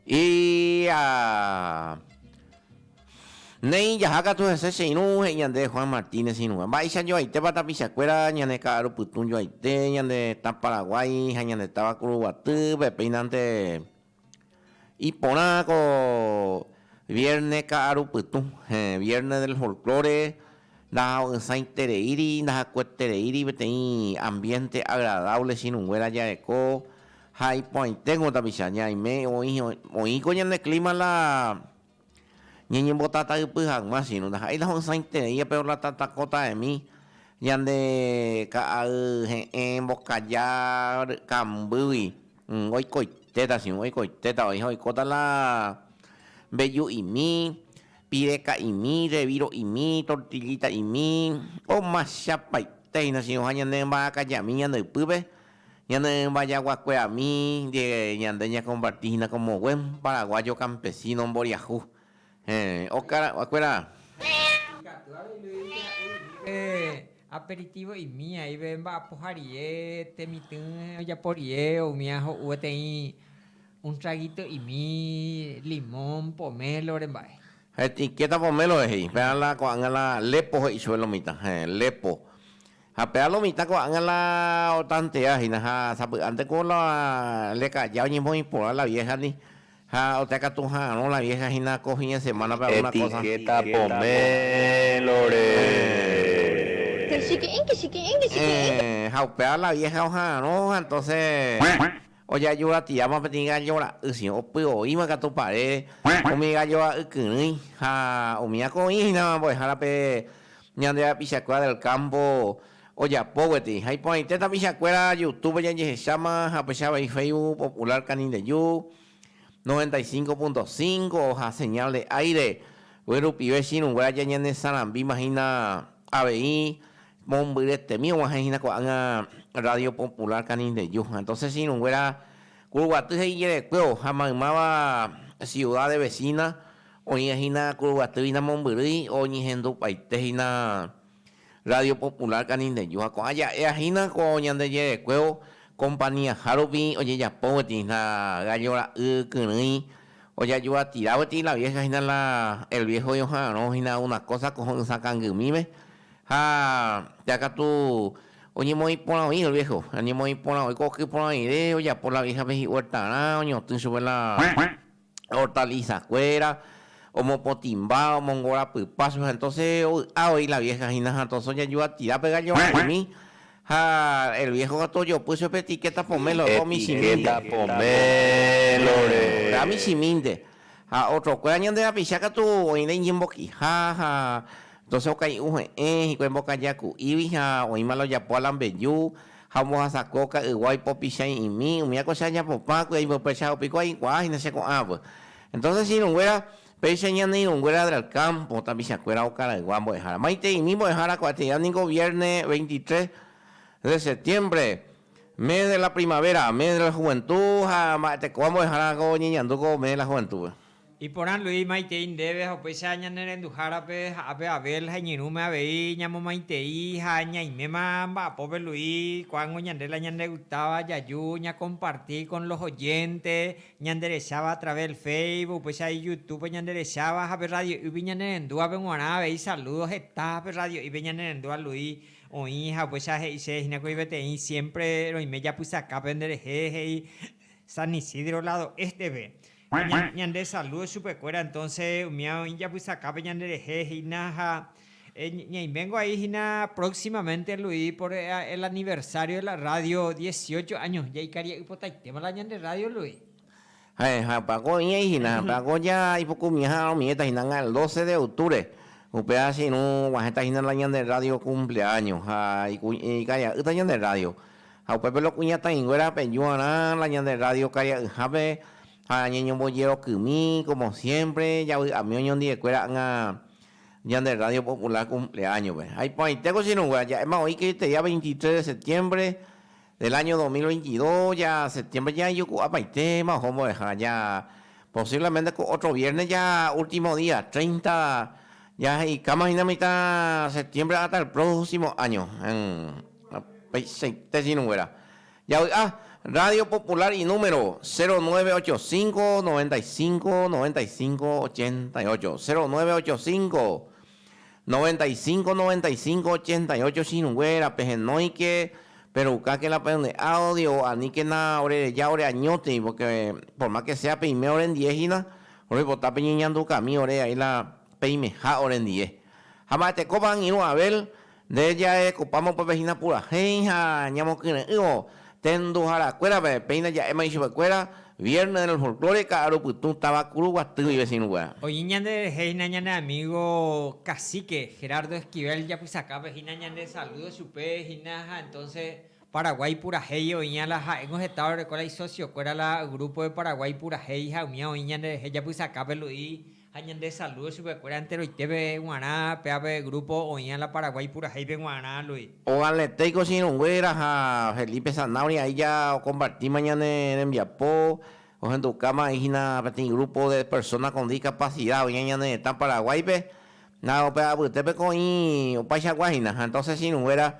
Ia. Néi jaha katu hese che irũ, he'i ñande Juan Martínez irũva. Mba'éicha joaitépa tapichakuéra ñane Ka'aru Pytũ joaite, ñande Tã Paraguái ha ñande táva Kuruguatýpe, péinante Iporã ko viérne ka'arupytũ, Viérne del Folklore, ndaha'õsãitereíri, ndahakuetereíri peteĩ ambiénte agradávle chiruguéra jareko ha iporãiténgo tapicha ñaime oĩ ko ñane klíma la Ñañembotataypy hag̃ua che irũ ndaha'éita ho'ysãiterei pe orlatatakota'emi ñande ka'ay he'ẽ mbokaja kambýgui oikoitéta che irũ oikoitéta oĩha oikóta la mbeju'imi, pireka'imi, reviro'imi, tortillita'imi, omachapaitéhina che irũha ñande mba'akajami ñande ypýpe Ñanembajaguakueami ndive ñande ñakomparti hína como buen paraguayo campesino mboriahu. Héẽ, okaraguakuéra! Ikatu avei Luis dice ha'e imíre aperitivo imiãive mba'apoha rie, temitỹ ojapo rie, umía ho'u peteĩ un traguito imi, limón, pomelo remba'e. Etiqueta pomelo he'i, péva la ko'ág̃a la lepo he'i chupe lo mitã. Héẽ, lepo. Ha péva lo mitã ko'ág̃a la otantea hína, ha sapy'ánte ko la leka'ja oñemoĩ porã la viéhandi, ha oteakatu ha'arõ la viéha hína ko fín de semánape algúna kósa. Ha upéva la viéha oha'arõ ha entóse Ojaju ratiáma peteĩ gallo ra'y si opy oĩva katu parére, umi gallo ra'y kyrỹi ha umi akõi hína mbo'ehára pe ñande rapichakuéra del campo ojapo gueteri. Ha iporãite tapichakuéra Youtube-pe jajehecháma ha upéicha avei Facebook popular Canindeju noventa y cinco punto cinco ha Señal de Aire, guy rupive chiruguéra jañanesarambíma hína avei Mombyretemi og̃uahẽ hína ko'ág̃a Radio Popular Canindeyu. Entonces irũnguéra Kuruguaty he'ijerekue oha maymáva ciudades vecinas oĩva hína Kuruguaty hína mombyrýi oñehendupaite hína Radio Popular Canindeyu. Ha ko'ã ja'éa hína ko Ñandejerekuévo compañía-ha rupi ojejapo guetĩ hína gallo ra'y kyrỹi ojayuatira guetĩ la vieja hína la el viejo ioha'arõ hína una cosa ko ho'ysã kangymíme. Ha ta katu oñemoĩ porã oĩ el viejo, oñemoĩ porã oiko oky porã oĩre, ojapo la vieja pe hi'uertarã, oñotỹ chupe la hortaliza kuéra, omopotĩmba, omongo rapypa chupe, ha entonces ovy'a voi la vieja hína, ha entonces oñanju atira pe gallo ra'ymi, ha el viejo katu ojopy chupe etiqueta pomelo, opa umi chimínte. Etiqueta pomelo-re. Opa umi chimínte. Ha otrokuéra ñande rapicha katu oĩre iñembokiha ha entonces okai'ũ he'ẽ hikuái mbokaja ku'ígui ha oĩma la ojapo alambeju ha ombohasako ka'ygua oipopicha iĩmi, umíva ko che ajapopã kui'a imbypéicha ha piko aikuaa hína che ko'ãvy. Entonces che irũnguéra, péicha ñane irũnguéra del campo tapichakuéra okaraygua mbo'ehára. Maitei, umi mbo'ehára ko'ág̃a ningo vierne 23 de septiembre Mes de la primavera, mes de la juventud ha mba'e tekóva mbo'ehára ko oñeñandu ko mes de la juventud-pe. Iporandúi maitei ndéve ha upéicha ñanerenduhárape ha ápe Abel ha iñirũme avei ñamomaitei ha ñaiméma mba'apópe Luis, ko'ág̃o ñande la ñande gustáva jaju ñakomparti con los oyente ñanderecháva a través del Facebook, upéicha y YouTube-pe ñanderecháva ha pe radio'ýgui ñanerendúvape g̃uarã avei saludos heta ha pe radio'ýpe ñanerendúva Luis. Oĩ haguéicha he'ise hína kuri peteĩ siémpre roime japysaka penderehe, he'i San Isidro ládo ésteve. Ñandesalúdo chupekuéra entónse umi oĩ japysakápe ñanderehe hína ha ñaiméngo ai hína próximamente Luis por el aniversario de la radio dieciocho años. Jaikaria'ypotaitéma la ñande rrádio, Luis. Ha'eha pako oĩ'ai hína, pako ja ipukumiãha omiéta hína el doce de octubre, upe ára che irũ guahẽta hína la ñande rrádio kumpleáño ha ikaria'ýta ñande rrádio. Ha upépe lo kuñataĩnguéra apejuarã la ñande rrádio karia'yhápe ha ñañombojerokymi kómo siémpre javy'ami oñondiekuéra ág̃a ñande rrádio popular kumpleáñope. Ha iporãitéko che irũngue aja'éma oĩ kriteria veintitres de setiémpre, Del año dos mil veintidós ja septiembre jajuku'apaitema oho mbo'eha ja posiblemente ko otro viernes ja ultimo día treinta ja he'ikáma hína mitã septiembre hasta el próximo año upeichaite chinuguéra ja vy'a Radio Popular y número cero nueve ocho cinco noventa y cinco noventa y cinco ochenta y ocho cero nueve ocho cinco 95 95 88 Chiruguéra, pehenóike, peroukáke la peñe'ádo Dios, aníkena orereja ore añótegui, porque por más que sea peime orendie hína, roipota peñeñandukami ore aĩ la peimeha orendie. Ha mba'etekópa angirũ Abel, Nde jarekópa mokõive hína purahéi ha ñamokyre'ỹvo tenduharakuérape, péina ja'éma ichupekuéra Viernes del Folklore Ka'aru Pytũ táva Kurugua Tívy vecino-kuéra. Oĩ ñande rehe hína ñane amigo cacique Gerardo Esquivel japysakápe hína ñande saludo chupe hína ha entonces Paraguái purahéi oĩva la ha'éngo heta orereko la isocio-kuéra la Grupo de Paraguái purahéi ha umía oĩ ñande rehe japysakápe Luis Ha ñande saludo chupe kuéra enteroitépe guarã péape grupo oĩa la Paraguay purahéipe guarã Luis. Ovaletei ko che irũnguéra ha Felipe Zanahoria aija o compartima ñane rembiapo ohendukáma ai hina peteĩ grupo de persona con discapacidad oĩa ñane retã Paraguáipe ha upe apytépe ko oĩ opaichagua hina ha entonces che irũnguéra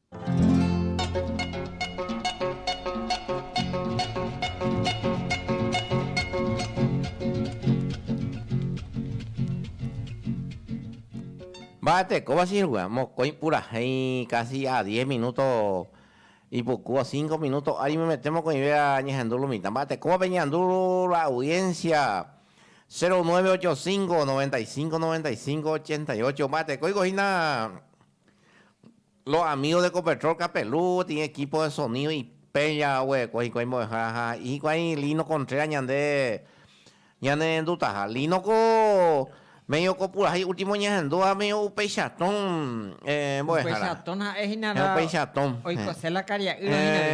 Mba'e tekóva che irũgua, mokõi purahéi casi a diez minuto ipuku o cinco minuto ári oimete mokõive añehendu lo mitã. Mba'e tekóva peñe'andu la audiencia cero nueve ocho cinco, noventa y cinco, noventa y cinco, ochenta y ocho. Mba'e tekoiko hína Los amigos de Ecopetrol Capelú tiene equipo de sonido ipéicha oguereko hikuái mbo'eha ha ha'i hikuái Lino Contreras ñande ñanendutaha. Lino-ko medio ko purahéi último ñahendu ha medio upeicha tõ mbo'ehára. Upeicha tõ ha'e hína la oikose la karia'ýva hína la.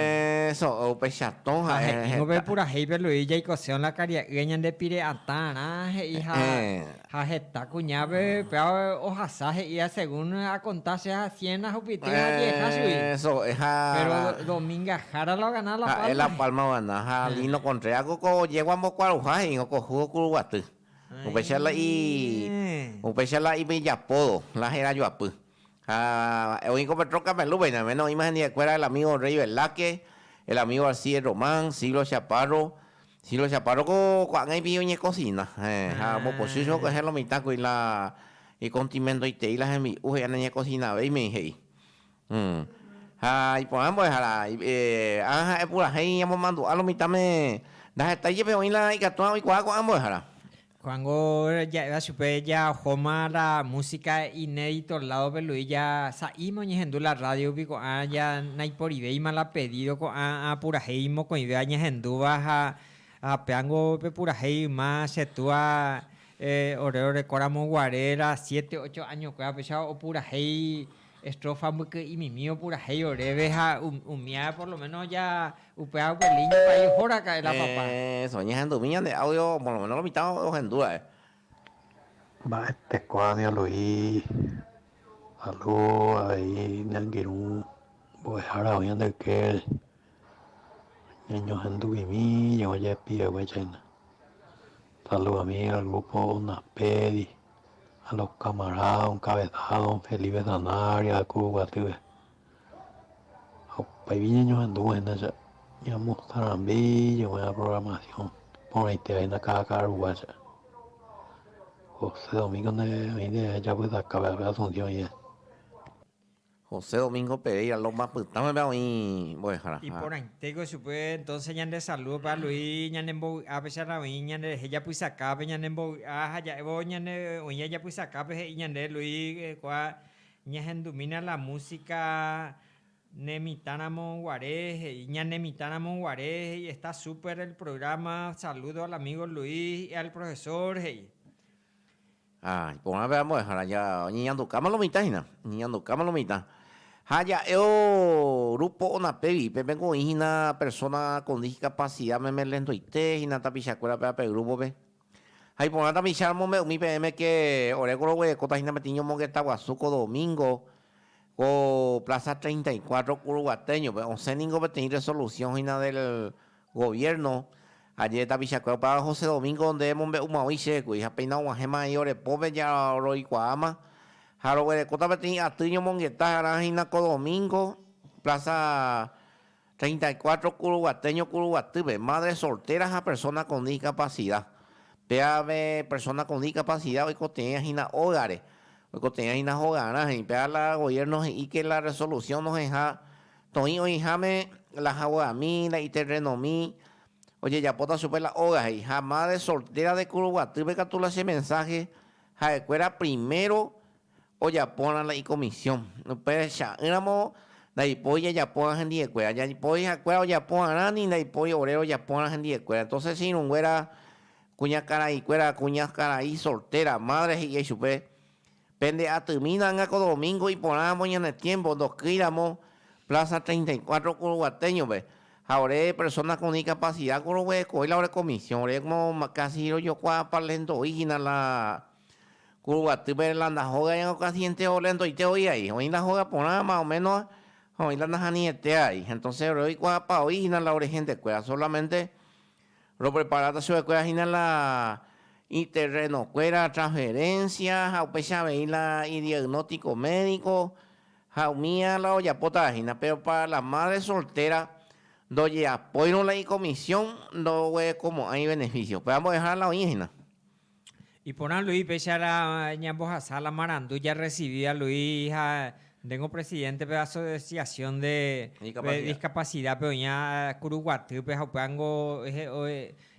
Eso, upeicha tõ ha'e. Ha he'ívo pe purahéipe Luis jaikoseo la karia'ýva ñande pire atãrã he'i ha Ha heta kuñápe pe ohasa he'íva según akonta che ha cien ahupyty ha diez hasy. Péro Dominga Jara la ogana La Palma. Ha'e La Palma ogana ha Lino Contreras ko ko yegua ombokuaruha he'írõ ko júgo kuruguaty. Upéicha la i, upéicha la ipe ijapódo, la herajoapy. Ha oĩ ko Petro Camelú pe ñaime no oĩma hendivekuéra el amigo Rey Velázquez, el amigo Alcides Román, Siglo Chaparro, Si lo Chaparro ko ko'ág̃a ipi'i oñekosina, ha ombopochýicha oguehe lo mitãkuri la ikontimentoitei la hembi'u he'i aneñekosinavéi mei he'i. Ha iporã mbo'ehára, ág̃a ha'e purahéi ñamomandu'a lo mitãme ndaheta jepe oĩ la ikatu'ã oikuaa ko'ã mbo'ehára. Juango ja'éva chupe ja ohóma la músika inédito ládope Luis ja sa'íme oñehendu la rrádiope ko'ã ja naiporivéima la pedído ko'ã apurahéi mokõivéva ñahendúva ha péango pe purahéi yma che túa ore orekóramo guare la siete, ocho áñokuéva péicha opurahéi Estrofa mbyky'imimi opurahéi oréve ha umía por lo menos ja upéva upe línea pa'i oho raka'e la papa. Eso, ñahendumi ñande audio por lo menos lo mitã ohendu ra'e. Mba'eteko avei alo'i alo avei ñangirũ mbo'ehára oĩ ñande ykére, ñañohenduvimi ñe'õ jepi eguéicha hína. Saludomi al grupo Unapedi. ha la ocamará onkavesada don Felipe Sanabria ku guasyve. Ha upéipi ñañohendúvo hína che ñamostrãmbi jeguerã programación porãiteva hína káda ka'arugua che. José Domingo nde oĩ nde japytakápe ápe Asunción ĩve. José Domingo Pereira Loma pytãgua oĩ mbo'ehára ha. Iporãitéko chupe entonce ñande saludo pe Aluí ñane mbovy'a pecharra oĩ ñande rehe japysakápe ñane mbovy'a ha ja'évo ñane oĩja japysakápe he'i ñande Luí kua ñahendumína la música ne mitã ramo guare he'i ñane mitã ramo guare he'i está súper el programa saludo al amigo Luí y al profesor he'i Ha iporãve ambuehára oñeñandukáma lo mitã hína, oñeñandukáma lo mitã. Ha ja'e o rúpo Onapevi, pe peko oĩ hína persóna kon diskapasida meme lentoite hína tapichakuérape ape grúpope. Ha iporã tapicha romombe'u umi peẽme ke oréko roguerekóta hína peteĩ ñomongeta guasu ko domingo ko Plaza 34 Kuruguatéñope. Osẽ ningo peteĩ resolusiõ hína del Goviérno, Aje tapichakuéra opáva José Domingo nde emombe'umaói chékuri ha péina og̃uahẽma he'i ore pópe jaroikuaáma ha roguerekóta peteĩ aty ñomongeta g̃arã hína ko domingo Plaza 34 Kuruguate Ñokuruguatýpe, madre soltera ha persona con discapacidad. Péave persona con discapacidad oikotevẽva hína ógare, oikotevẽva hína hogarã he'i. Péva la gobierno he'i que la resolución noheja Toĩ oĩháme la haguãmi, la iterrenomi, ojejapóta chupe la óga, he'i. Ha Madre Soltera de Kuruguatýpe katu la che mensaje ha'ekuéra primero ojapórã la ikomisiõ. Upe cha'ỹramo ndaipói jajapórã hendiekuéra. Jaipói ha'ekuéra ojaporãrã ni ndaipói ore rojapórã hendiekuéra. Entonces che irũnguéra kuñakaraikuéra, kuñakarai soltera, madre he'íai chupe, Pende atymína anga ko domingo iporãvo ñane tiempo ndokýi ramo Plaza 34 Kuruguateño-pe, ha ore persona con discapacidad ko roguerekói la ore comisión, ore como casi rojokuaa parlendo'i hina la Kuruguatýpe la ndahóga ña ko casi entero lendoite oĩ aĩ, oĩ la hóga porã más o menos ha oĩ la nahani'etea aĩ, entonces ore oikuaapa'o'i hina la ore hentekuéra, solamente Ropreparáta chupekuéra hína la iterrenokuéra, transferencia, ha upéicha avei la idiagnóstico médico, ha umía la ojapótava hína. Péro pára la mádre soltéra, ndojeapóirõ la ikomisión ndoguerekomo'ãi iveneficio. Upéva mbo'ehára la oĩ hína. Iporã Luis péicha la ñambohasa la marandu jarresivíva Luis ha ndéngo presidente pe asociación de discapacidad pe oĩva kuru guatýpe ha upéva niko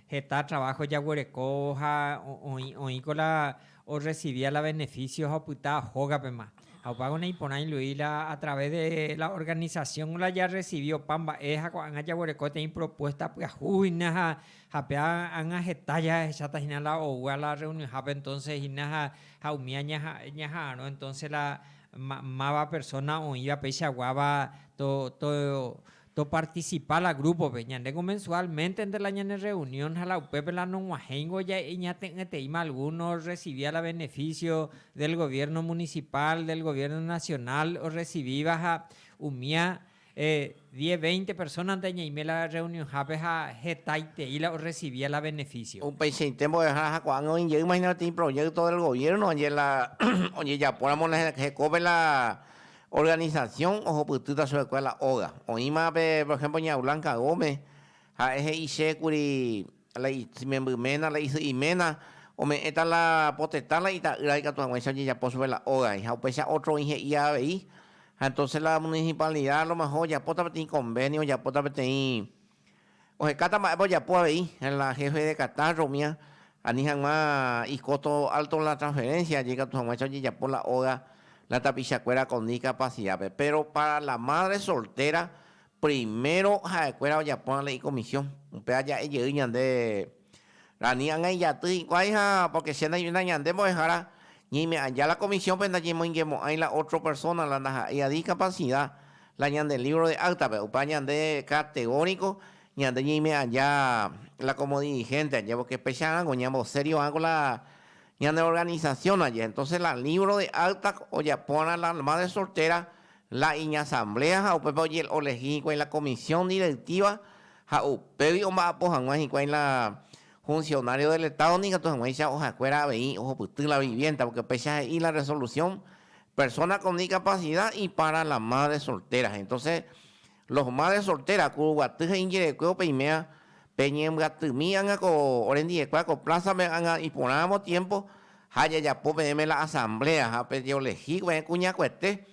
heta trabajo jaguerekóvo ha oĩko la orresivíva la beneficio ha opyta hógapema ha upévagui naiporãi Luis la a través de la organización la jarresivi opa mba'e ha ko'ág̃a jaguereko peteĩ propuesta pyahúhina ha Ha pe ág̃a heta jahecháta hína la oúva la rreunionhápe entónse hína ha umi aña ñaha'arõ entónse la máva persóna oĩva peichaguáva topartisipa la grúpope. Ñandéko mensuálmentente la ñanerreunión ha la upépe la nog̃uahẽingo ñate'ỹeteíma algúno orresivíva la benefísio del goviérno munisipál, del goviérno nasionál orresivíva ha umía Diez, veinte persóna ndañaime la rreunionhápe ha hetaitei la orresivia la venefísio. Upeichaite mbo'ehára ha ko'ág̃a oĩ jey hína peteĩ proyékto del goviérno añe la ojejapóramo la hekópe la organisasión ohupytýta chupekuéra la óga. Oĩma pe, por ehémplo, ña Blanca Gómez, ha'e he'i che kuri, la imemby ména, la isy'i ména, ome'ẽta la potetã la ita'ýra ikatu hag̃uáicha ojejapo chupe la ógagui, ha upéicha ótro oĩ he'i avei, ha entónse la munisipalnida alomeho ojapóta peteĩ konvénio, ojapóta peteĩ, ohekáta mba'épa ojapo avei, la héfe de katástro umía ani hag̃ua ikósto álto la transferénsia aje ikatu hag̃uáicha ojejapo la óga la tapichakuéra kondi kapasidápe, péro pára la mádre soltéra Primero ha'ekuéra ojapórã la ikomisiõ, upéva ja'e jey ñande Rani ág̃a ijaty hikuái ha pórke che ndaimína ñande mbo'ehára ñeime'ãja la komisiõpe ndañemoingemo'ãi la ótro persóna la ndaha'éi a diskapasida la ñande lívro de áktape. Upéva ñande kategóriko ñande ñeime'ãja la komo dirihénte ajévo kepecharãngo ñamboserio'ãko la Ñane organisasión aje, entonces la libro de acta ojapórã la alma de soltera, la iñasamblea ha upépe ojeolehi hikuái la comisión directiva ha upégui omba'apo hag̃ua hikuái la funcionario del Estado nikatu hag̃uáicha ohakuéra avei ohupyty la vivienda, porque upéicha he'i la resolución, persona con discapacidad y para la madre soltera, entonces, Los Madres Solteras, Kuruguaty ha Iñjerekue upe iméva, peñembyatymi ág̃a ko orendiekue ko plázape ág̃a iporãramo tiempo ha jajapo peẽme la asamblea ha pejeolehí upe kuñakuete,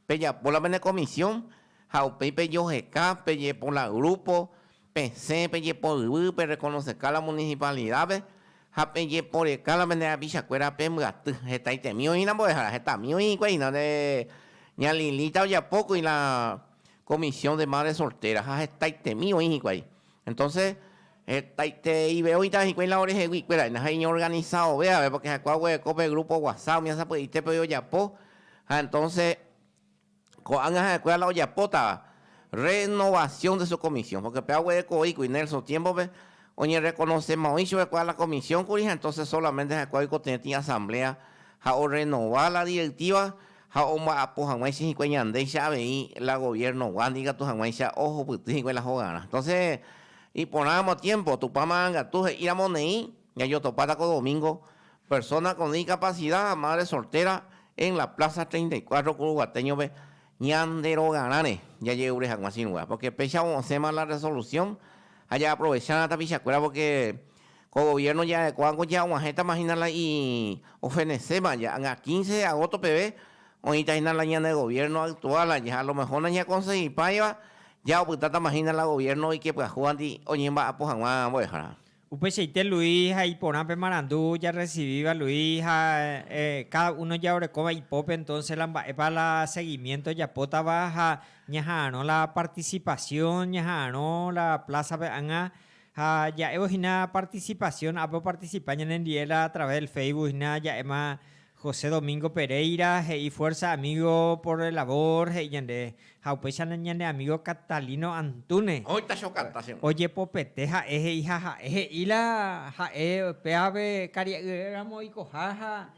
pejapo la pene comisión ha upéi pejoheka, pejepo la grupo, pesẽ, pejepo yvy, perrekonoseka la municipalidad-pe ha pejeporeka la pene rapichakuéra pembyaty. Hetaitemi oĩramo mbo'ehára, hetami oĩ hikuái, ña Lilita ojapókuri la Comisión de Madres Solteras, ha hetaitemi oĩ hikuái. Entonces, hetaiteive oĩta hikuái lado rehegui ikuéra, ha iñorganizaove avei, porque ha'ekuéva oguereko pe grupo whatsapp umi asapy'aitépe ojapo, ha entonces ko'ág̃a ha'ekuéra la ojapótava renovación de su comisión, porque upéva oguerekoi kuri Nelson tiémpope, oñerrekonosema oĩ chupekuéra la comisión kuri, ha entonces solamente ha'ekuéva oikotevẽtĩ asamblea ha orrenova la directiva, ha omba'apo hag̃uáicha hikuái ñandéicha avei la goviernogua ndikatu hag̃uáicha ohupyty hikuái la hogarã. Entonces, iporãramo tiempo, Tupã Marangatu he'íramo neĩ, ñajotopáta ko domingo persona con discapacidad ha madre soltera en la plaza treinta y cuatro Curuguateño-pe ñande rogarãre jaje'úre hag̃ua chiru'a, porque péichavo osẽma la resolución ha ja'aprovechárã tapichakuéra porque Ko goviérno ja'ekuáko jaguahẽtama hína la iofeneséva. Ja'anga quince de agósto peve oĩta hína la ñane goviérno aktuál aja, alomeho nañakonsegipáiva ja'opytátama hína la goviérno ikepyahúvanti oñemba'apo hag̃ua mbo'ehára. Upeichaite Luis ha iporã pe marandu jarresivíva Luis ha káda uno jaorekóva ipópe, entónse la mba'épa la segimiénto japótava ha ñaha'arõ la partisipasión, ñaha'arõ la plásape ág̃a Ha ja'évo hína partisipasión, apopartisipa ñanendie la atraves del Facebook hína ja'éma José Domingo Pereira he'i Fuerza amigo por el labor he'i ñande, ha upéicha ñande amigo Catalino Antúnez. Kóita che okata che rũnga. Ojepopete ha'e he'i ha ha'e he'i la ha'e pévape karia'yre'ỹramo oikoha ha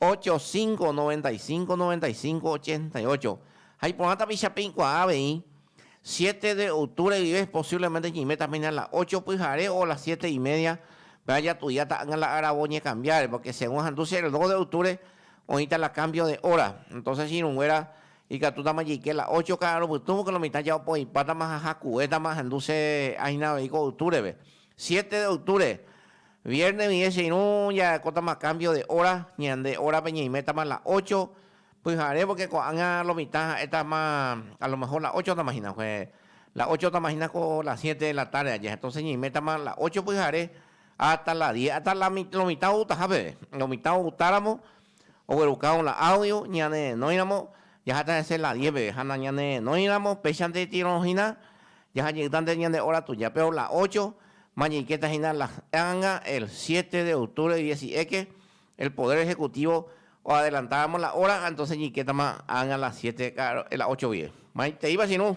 85 95 95 88 ha iporã tapicha peikuaa avei, siete de octubre guive posiblemente ñeiméta péina la ocho pyhare o la siete y media, péva jatudiáta ág̃a la áravo ñekambiáre, porque según ahandu che reloj de octubre oĩta la cambio de hora, entonces che irũnguéra ikatútama jeike la ocho ka'arupytũ, porque lo mitã ja opoipátama ha jakuétama ahendu che áina avei ko octubre-pe. Siete de octubre, vierne vie che irũ jarakótama cambio de hora, ñande hórape ñeimétama la ocho pyhare porque ko'ág̃a lo mitã ha'étama a lo mejor la ochotama hína, la ochotama hína ko la siete de la tarde aja, entonce ñeimétama la ocho pyhare hasta la diez, hasta lo mitã outaha peve, lo mitã outaramo oguerukãvo la audio ñanerenóiramo jaháta hese la diez peve ha nañanerenóiramo peichanteitirõ hína jaha jeyta nde ñande hora tuja péro la ocho ma jeikéta hína la anga el siete de octubre diez y eke el poder ejecutivo oadelantáramo la hora ha entonce jeikétama anga la siete ka'aru la ocho vie maiteíva che irũ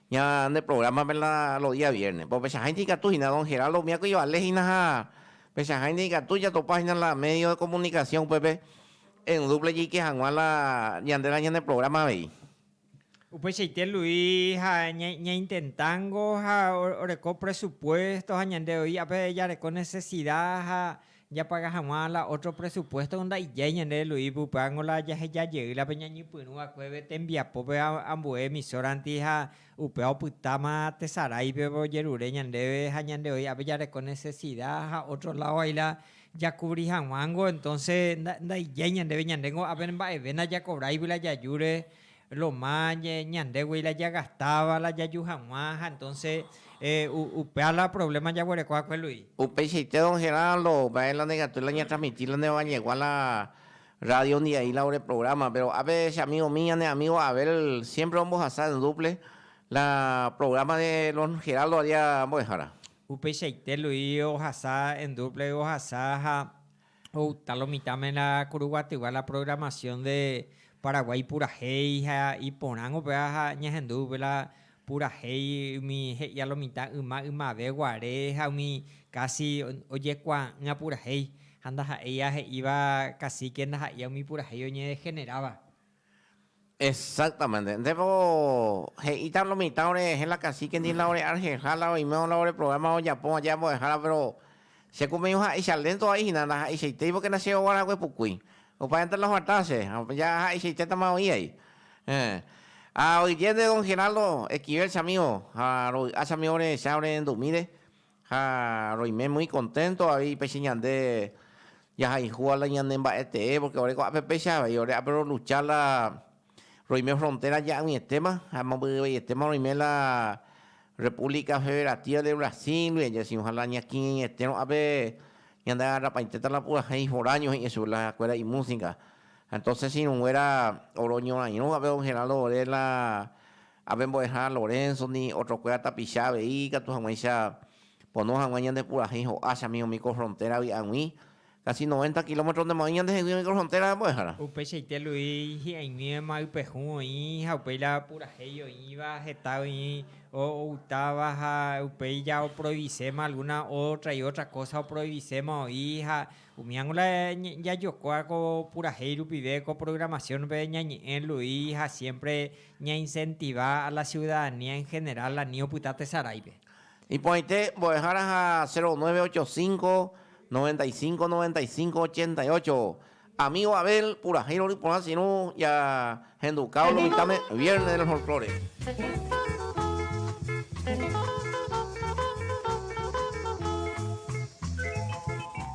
Ñande prográmape la los días viernes. Pó pechaháinte ikatu hína don Geraldo umi akói ovale hína ha pechaháinte ikatu jatopa hína la medio de comunicación upépe en dupla jeike hag̃ua la ñande la ñane programa avei. Upeichaite Luis ha ñaintentángo ha oreko presupuesto ha ñande oĩ ápe jareko necesidad ha Japaga hag̃ua la ótro presupuésto ndaijái ñande Luis Buprango la jaheja jey la pe ñañepyrũ vakueve tembiapópe ambue emisóranti ha upéva opytáma tesaráipe ojerure ñandéve ha ñande oĩ ápe jareko nesesida ha ótro ládo hai la jakuvri hag̃uángo entónse ndaijái ñandéve ñandéngo ápe mba'eve ndajakovráigui la jajúre Loma ñandégui la jagastáva, la jaju hag̃ua, ha entonce upéva la problema jaguereko va'ekue Luis. Upeichaite don Geraldo, upévare la nekatúi la ñatransmiti la ne ovañegua la rádiondi aĩ la ore programa, péro ápe che amigomi ñane amígo Abel siémpre ombohasa en dúple la programa de don Geraldovaria mbo'ehára. Upeichaite Luis ohasa en dúple ohasa ha Oúta lo mitãme la kuruguatyva la programación de Paraguái purahéi ha iporãngo péva ha ñahendu upe la purahéi umi he'ia lo mitã yma ymave guare ha umi casi ojekuaa'ỹa purahéi ha ndaha'éi ahe'íva cacique ndaha'éi umi purahéi oñedegeneráva. Exactamente. Ndépa ko he'íta lo mitã orehehe la cacique ndie la ore arjeja la oimeo la ore programa ojapo aje ambo'ehára pero che ku peño ha'eicha lento vai hina ndaha'eichaitéi porque na che oguarague pukui. Opaénte la oguata che ya ha'eichaitéta ma oĩ vai. Eh. Ha oidiénte don Geraldo Esquivel che amigo ha rovy'a che amigo orehecha ore ndumíre Ha roime muy contento avei péicha ñande jahayhúva la ñane mba'etee, porque ore ko'ápe péicha avei ore ápe ro lucha la roime frontera ja'ỹietéma ha mombyryveietéma roime la República Federativa de Brasil ndive jaisy oja la ñakirirĩete ro'ápe ñande agarrapaiteta la purahéi foraño he'ẽ chupe la kuéra imusica. Entonces irũnguéra oroñorairõ hape don Geraldo ore la Ápe mbo'ehárã Lorenzo ni otrokuéra tapicha avei ikatu hag̃uáicha pono hag̃ua ñande purahéi ho'áchami umi ko frontéravi ag̃ui, kasi noventa kilómetro ndemo'ãi ñande hegui umi ko frontéra mbo'ehárã. Upeichaite Luis hi'ãiguĩvema ypehu oĩ ha upéi la purahéi oĩva heta oĩ ogutáva ha upéi ja oprohibiséma alguna ótra y ótra kósa oprohibiséma oĩ ha umíango la jajokóa ko purahéi rupive ko programación-pe ñañe'ẽ Luis ha siémpre Ñaincentiva a la ciudadanía en general ani opyta tesaráipe. Iporãite mbo'ehára ha 0985 95 95 88 Amigo Abel purahéi rory porã sirũ jahendukávo lo mitãme Viernes del Folklore.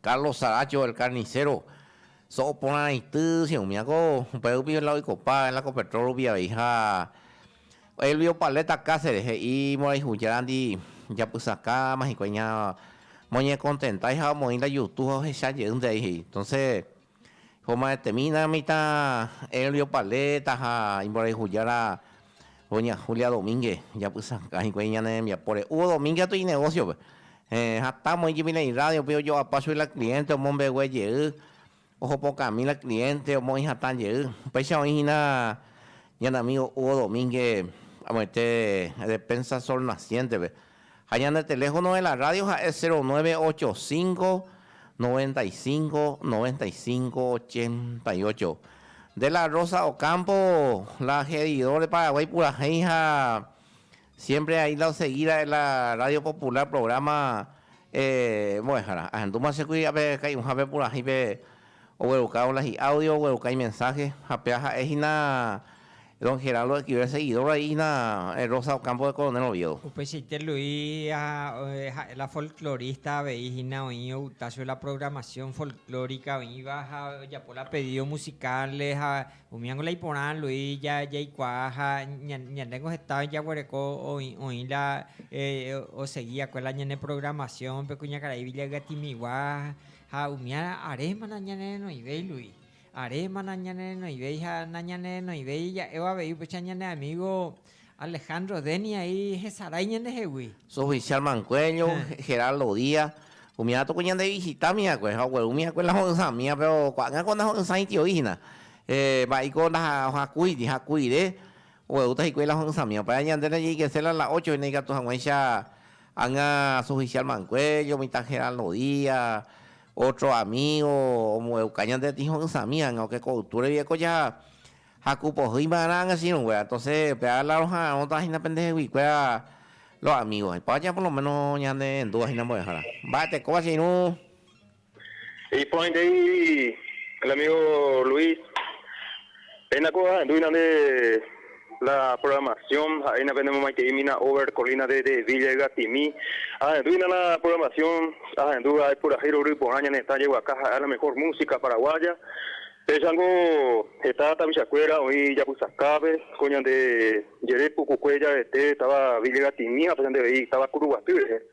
Carlos Saracho el Carnicero, so'o porãraity che umi akó, upéva rupi la oikopa en la Copetrol rupi avei ha Elvio Paleta Cáceres he'i mborayhujárandy japysakãma hikuái ña moñekontentáiha omoĩ la yutu ha ohecha jeýnte avei he'i. Entonces. Homaetemína mitã Elvio Paleta ha imborayhujára doña Julia Domínguez, japysakã hikuái ñane rembiapóre. Hugo Domínguez katu inegosiope, hatã moi Jubilee irrádiope ojoapa chui la cliente omombegue jey, ohopokami la cliente omoĩ hatã jey. Upéicha oĩ hína ñane amigo Hugo Domínguez amoite defensa del sol naciéntepe. Ha ñane teléfono de la radio ha'e cero nueve ocho cinco, noventa y cinco, noventa y cinco, ochenta y ocho. De la Rosa Ocampo la heridor de Paraguay purahéi ha siempre ahí la oseguíra de la radio popular programa eh mbo'ehára. Ahendúma che kuiria pe kai'uhápe purahéi pe Ogueruka hola hi'a audio ogueruka imensaje ha péva ha'e hína Don Geraldo Equivel seguidor vai hína Rosa Ocampo de Coronel Oviedo. Upeichaite Luis ha ha'e la folclorista avei hína oĩ outa chupe la programación folclórica oĩva ha ojapo la pedido musicales ha umi niko la iporã Luis ja jaikuaa ha ñande niko heta oĩ jaguereko oĩ oĩ la osegi va'ekue la ñane programación pe kuñakarai Villa Ygatimigua Ha umi ára aréma nañanerenoivéi, Luis. Aréma nañanerenoivéi ha nañanerenoivéi ja'évo avei upecha ñane amígo Alejandro Dennis aĩ hesarái ñandehegui. Sofichál Mancuello, Geraldo Díaz, umi ára tuku ñandevisitami va'ekue ha oguerúmi va'ekue la ho'ysãmíva, péro ko'ág̃a ko ndaho'ysãi itio'i hína. Mba'éiko ndahakúiti, hakuire oguerúta hikuái la ho'ysãmíva. Upéva ñande najeikese la la ocho hína ikatu hag̃uáicha Ág̃a asuhicial manguello, mitad geral no día, otro amigo ombo'euka ñande tiho'ysãmi ág̃a oke ko ytu regui ekoja ha ku pohýi va'erã ág̃a che irũ kuéra. Entonces pe ág̃a la roha'arõta hína pende hegui kuéra los amigos. Ipáva japo lo menos ñane rendúva hína mbo'ehára. Mba'etekóva che irũ. Iporãite he'i el amigo Luis, péina ko ahendu'ína nde la programación, ha'éina pende momaite'ímina Over Colina de Villa Ygatimi, ahendu'ína la programación, ahendúva ipurahéi rory porã ñane retã jeguaka ha'éva la mejor música paraguaya, péicha niko heta tapicha kuéra oĩ ijapysakápe, ko ñande jere pukukue jaete táva Villa Ygatimi ha péicha nde avei táva Kuruguaty rehe.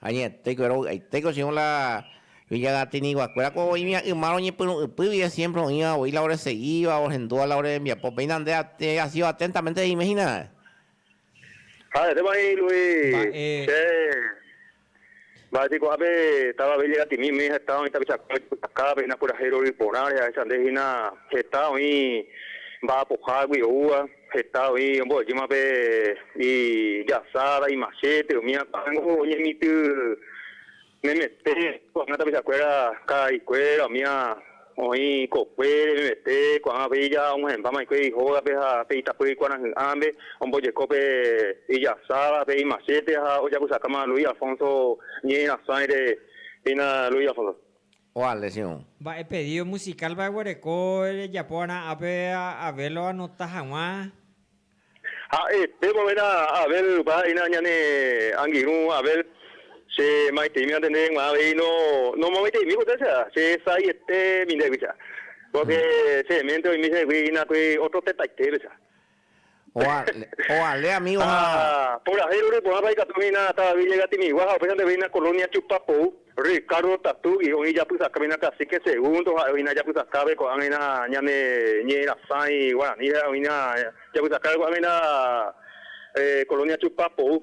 Añete kuéra ovy'aite ko Sión la Villagatiniguakuéra ko oĩmi a yma roñepyrũ'ypy vie siémpre oĩva voi la oresegíva, orhendúva la orembiapo. Péina nde asido aténtamente reime hína. Ha heréma he'i Luis, Mba'e. Che, mba'éti ko'ápe táva Villagatini umi heta oĩ tapichakuéra ojepytakáva péina purahéi rory porã rehe'aichande'hína heta oĩ mba'apohágui oúva. Heta oĩ ombo'ejíma pe ijasára, imachete, umi akãngo oñemitỹ memete, ko'ág̃a tapichakuéra ka'aikuéra, umía oĩ kokuére memete, ko'ág̃a pe ija omyhẽmba maikue ihógape ha pe itapýri kuarahy'ãme ombojeko pe ijasára, pe imachete ha ojapysakáma Luis Alfonso ñe'ẽrasãi rehína Luis Alfonso. Oa lesiõ. Mba'e pedído musikálpa eguereko rejapóva'erã ápe Abel oanota hag̃ua? Ha'e, Péva oĩrã Abel, upéva ha'éina ñane angirũ Abel. Che maitĩmi antende g̃uarã avei no, no momaiteimi poté che, che sa'aietemi ndéguicha. Pórke che ménte oĩmi che rehegui hína pe ótro tetaitépecha. Oale amigo ha. Ha purahéi rore porãpa ikatu hína Ata David Llega Timigua ha upéichante veína Colonia Tupapou, Ricardo Tatugui, oĩ japysaka veína Cacique Segundo ha'e oĩna japysakápe ko'ág̃aina ñane ñe'ẽra sãi guarani ha'e oĩna japysakápe ko'ág̃aina Colonia Tupapou.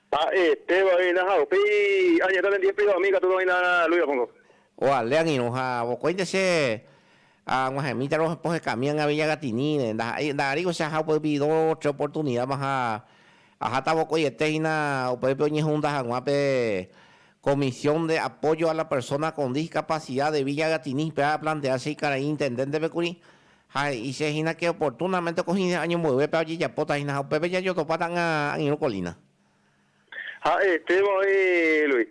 Ha'e péva oĩna ha upéi añetéta nendive príva umi ikatúta oĩna Luis Alfonso. Oale angirũ ha vokóinte che ag̃uahẽmítaro pohekami ag̃avi Ñagatinire. Ndaha'éi, nda'arýivo che aha upérupi do tre oportunidad-ma ha aháta vokoiete hína upépe oñehunda hag̃ua pe Comisión de Apoyo a la Persona con Discapacidad de Villa Gatini pe aplantea che ikarai intendente-pe kuri Ha he'ise hína ke oportunamente ko hĩndé año mboyvépe ojejapóta hína ha upépe jajotopáta ãga angirũ kolína. Ha'e Esteban oĩ Luis,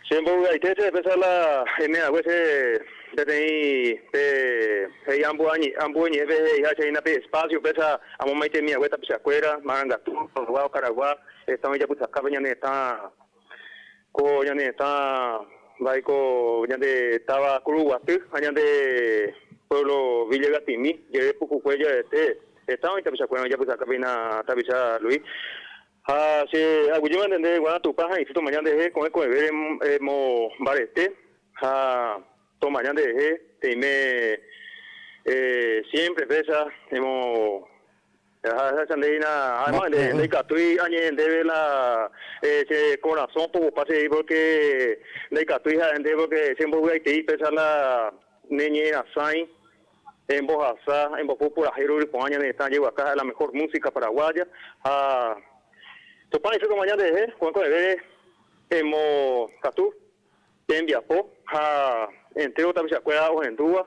Che mbovy'aite che pésa la eme hague che peteĩ pe he'i ambu'o ñe'ẽpe he'iha che hína pe espacio pésa amomaitemi hague tapichakuéra, marangatu, tolgua, okaragua, heta oĩ japysakápe ñane hetã. Ko ñane hetã mba'éiko ñande táva Kuru Guaty ha ñande pueblo Villa Ygatimi jere pukukue jaete hetã oĩ tapichakuérõ ijapysaka péina tapicha Luis ha che aguyjéma entender guarã Tupã ha'itse tomaña nderehe ko'ẽ ko'ẽve remo mbarete ha tomaña nderehe teime siempre presa remo Jahecháta nde hína ha'éma ndaikatúi añe'ẽ ndéve la che korasõ pogupa che pórke ndaikatúi ha'e ndéve pórke che mbovy'aitei péicha la neñe'ẽrasãi embohasa embopu purahéi rory porã ñane retã jeguaka ha'e la mehór músika paraguáya ha Tupã he'íseko omaña nderehe ko'ẽko'ẽve emokatu tembiapo ha entéro tapichakuéra ohendúva.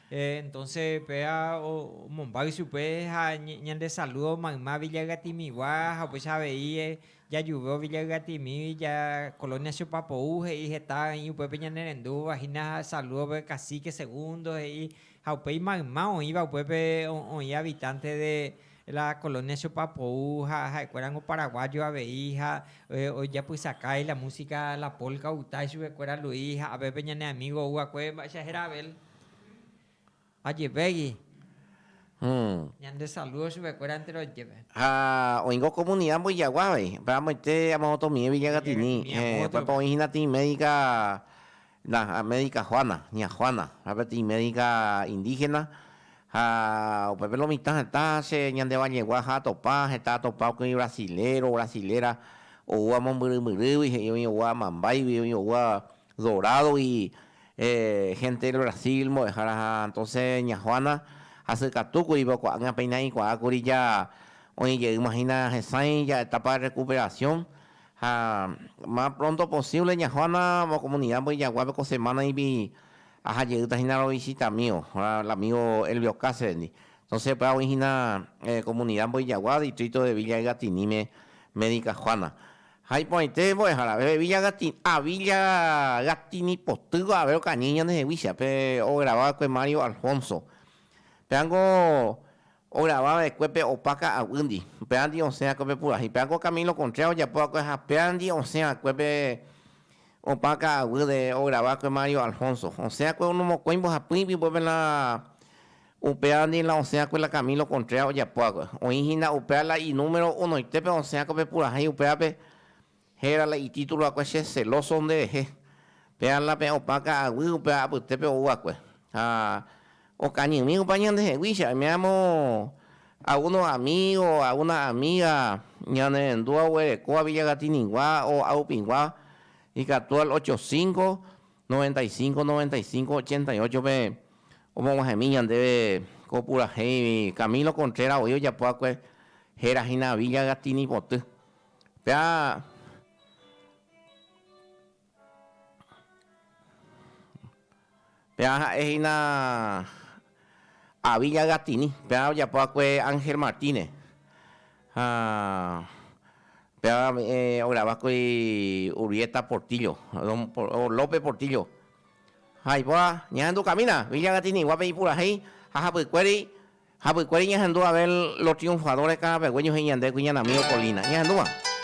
Entonce péva omombáy chupe ha ñande saludo mayma Villagatimigua ha upéicha avei jajuve Villagatimí ja colonia Chopapou he'i heta oĩ upépe ñanerendúva hína saludo pe cacique segundo he'i ha upéi mayma oĩva upépe oĩ habitante de la colonia Chopapou ha ha'ekuérango paraguayo avei ha ojapysakái la música la polca ogutáichupekuéra Luis ha apépe ñane amigo oguakue mba'éicha héra Abel. Ajevégui ñande saludo chupekuéra entero jepe. Ha oĩngo comunidad Mboyagua avei, pe amoite amovotomie Villa Gatini, upépe oĩ hína tĩi médica, na médica Juana, ña Juana, ha pe tĩi médica indígena, ha upépe lo mitã heta che ñande vallegua ha atopa, heta atopa oĩgui brasilero, brasilera, oúva mombyry myrýgui, he'i oĩ oúva amambaigui, oĩ oúva dorado-gui, Hénte Brasil mbo'ehára entonce ña Juana hasykatúkuri pe okuaág̃a péina ikuaákuri ja oĩ jeýma hína hesãi ja etapa de recuperación ha más pronto posible ña Juana mo comunidad Mboyjaguápe ko semana ĩbi aha jeýta hína ro visita amigo el amigo Elvio Cáceresndi entonce upéva oĩ hína comunidad Mboyjagua distrito de Villa Ygatiníme médica Juana Ha iporãite mbo'eha rave Villa Gatini, a Villa Gatini potýgua rave okañy ñande heguícha, pe ograva va'ekue Mario Alfonso. Péva niko ograva va'ekue pe opa ka'aguýndi, upérandi osẽ va'ekue pe purahéi. Péva niko Camilo Contreras ojapo va'ekue ha pévandi osẽ va'ekue pe opa ka'aguýre ograva va'ekue Mario Alfonso. Osẽ va'ekue onomokõi mbohapy ipype pela Upéva ndie la osẽ'akue la Camilo Contreras ojapo'akue. Oĩ hína upéva la inúmero unoite pe osẽ'akue pe purahéi upévape héra la itítulo'akue Che celóso nde rehe. Péva la peẽ opa ka'aguy upéva apytépe ou'akue. Ha okañymi opa ñandeheguícha, oime'aramo algunos amigos, algunas amigas ñane rendúva oguereko Villa Catiningua o Aupingua, ikatu al ocho cinco, 95 95 88 pe omog̃uahẽmi ñandéve ko purahéi Camilo Contreras voi ojapo akue héra hína Villa Gatini poty pea pea ha'e hína Avi ñagatini, péva ojapo va'ekue Ángel Martínez, ha péva ograva va'ekue Urbieta Portillo, López Portillo, ha ipoha ñahendu kamína Avi ñagatini guápe ipurahéi ha hapykuéri, hapykuéri ñahendu Abel Los Triunfadores karãpegue ñohẽ ñande kuiñanami Okolina, ñahendúva.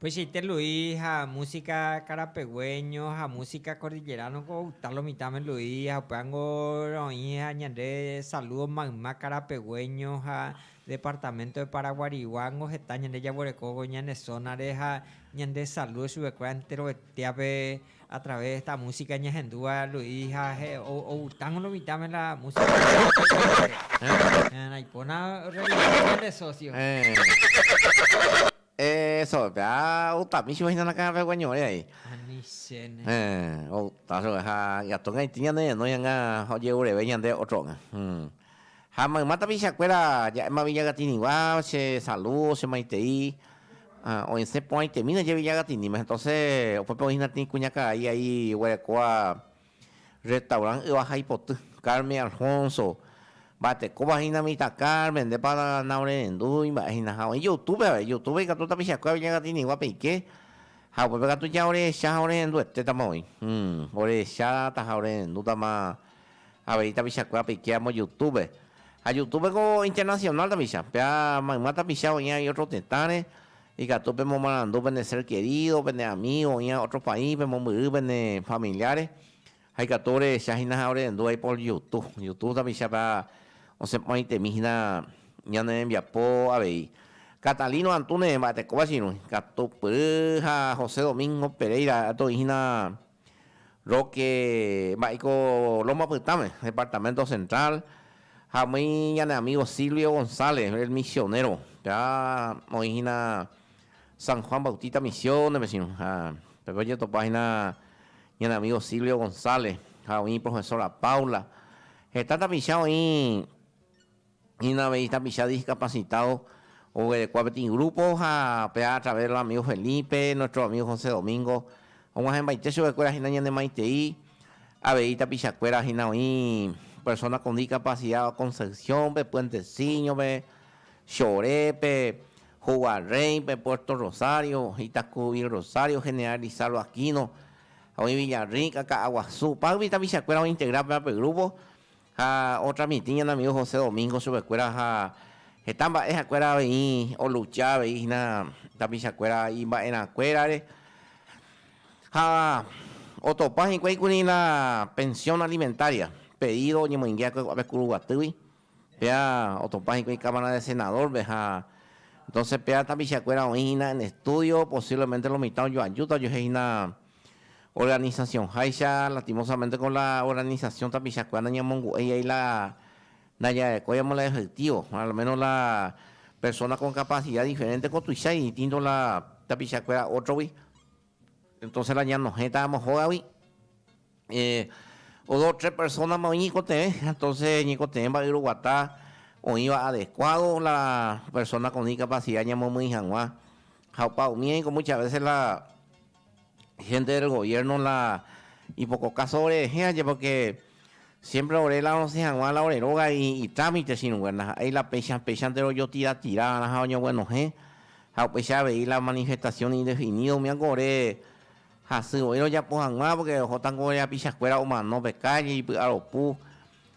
Tuichaite Luis ha músika karapegueño ha músika kordilleránoko outa lo mitãme Luis ha upévango roĩ ha ñande salúdo mayma karapegueño ha departamento de Paraguariguángo heta ñande jaguerekóvo ñane zónare ha ñande salúdo chupekuéra enterovetéape a través de esta músika ñahendúva Luis ha outãngo lo mitãme la músika karapegueño. Naipóna revisar ñande socio. Eso, pea utami chupe hína nakãha pegua ñore aĩ. Ani chéne. Outa chupe ha ikatu gãiti ñane renói hag̃ua ojeureve ñande ótro óga. Ha mayma tapicha kuéra ja'éma Villagatinigua che salu, che maitei, oĩsẽ porãitemína je Villagatiníme. Entonces upépe oĩ hína tĩi kuñakarai aĩ oguerekóva. Restaurant Yva ha Ipoty, Carmen Alfonso, mba'etekópa hína mitãkárme, ndépa naorerendúi mba'e hína. Ha oĩ Youtube avei, Youtube ikatu tapichakuérape ñakatĩnigua peike, ha upépe katu ña orehecha ha orerenduetétama oĩ. Orehechátama, orerendútama avei tapichakuéra peike amo Youtube. Ha Youtube ko internacional tapicha, péa mayma tapicha oĩ avei ótro tetãre, Ikatu pemomarandu pene sér kerído, pene amígo oĩva ótro país, pemombyry pene familiare, ha ikatu orehecha hína ha orehendúvai por Yutu. Yutu tapichápe osẽporãitemi hína ñane rembiapo avei. Catalino Antúnez mba'etekóva che irũi, Katupyry ha José Domingo Pereira oĩ hína. Roque mba'éiko Loma Pytãme, departamento central, ha umíi ñane amigo Silvio González, el misionero, ya oĩ hína San Juan Bautista Misiones pe chiru, ha tape ojetopa hína ñane amigo Silvio González ha oĩ iprofesora Paula, heta tapicha oĩ Hína avei tapicha discapacitado oguerekua peteĩ grupo ha pe a través del amigo Felipe, nuestro amigo José Domingo og̃uahẽmbaite chupekuéra hína ñanemaitei avei tapichakuéra hína oĩ persona con discapacidad Concepción-pe, Puenteciño-pe, Chorépe, Hogua Rey-pe, Puerto Rosario, Itacu Vil Rosario, General Lizardo Aquino, ha oĩ Villa Rica, Ka'aguasu, págui tapichakuéra ointegra péva pe grupo. Ha ótra mitĩ ñane amigo José Domingo chupekuéra ha heta mba'e hakuéra avei olucha avei hína tapichakuéra imba'erãkuérare ha otopa hikuái kuri la pensión alimentaria pedido oñemoinge hakuekuápe Kuruguatýgui, péa otopa hikuái Cámara de Senador-pe ha entonces péa tapichakuéra oĩ hína en estudio, posiblemente lo mitã ojoajúta ojehe hína organización háicha, lastimosamente con la organización tapichakuéra nañamongu'éi ai la ndajarekói amo la efectivo, al menos la persona con capacidad diferente ko tuichai distinto la tapichakuéra otrogui, entonces la ñanohẽta amo hógagui dos, tres personama oĩ ñikotevẽ, entonces ñikotevẽ mba'e roguata oĩva adecuado la persona con discapacidad ñamomýi hag̃ua ha opa umíva niko muchas veces la Hénte del goviérno la ipoko káso ore rehẽvape, pórke siémpre ore la rosẽ hag̃ua la ore róga itrámite chirũngue. Ndaha'éi la péicha péichante rojotira tira va'erã ha oñoguenohẽ, ha upéicha avei la manifestación indefinida umi áko ore hasy voi rojapo hag̃ua, pórke ohóta ko ore hapichakuéra omano pe kálle, ipy'aropu.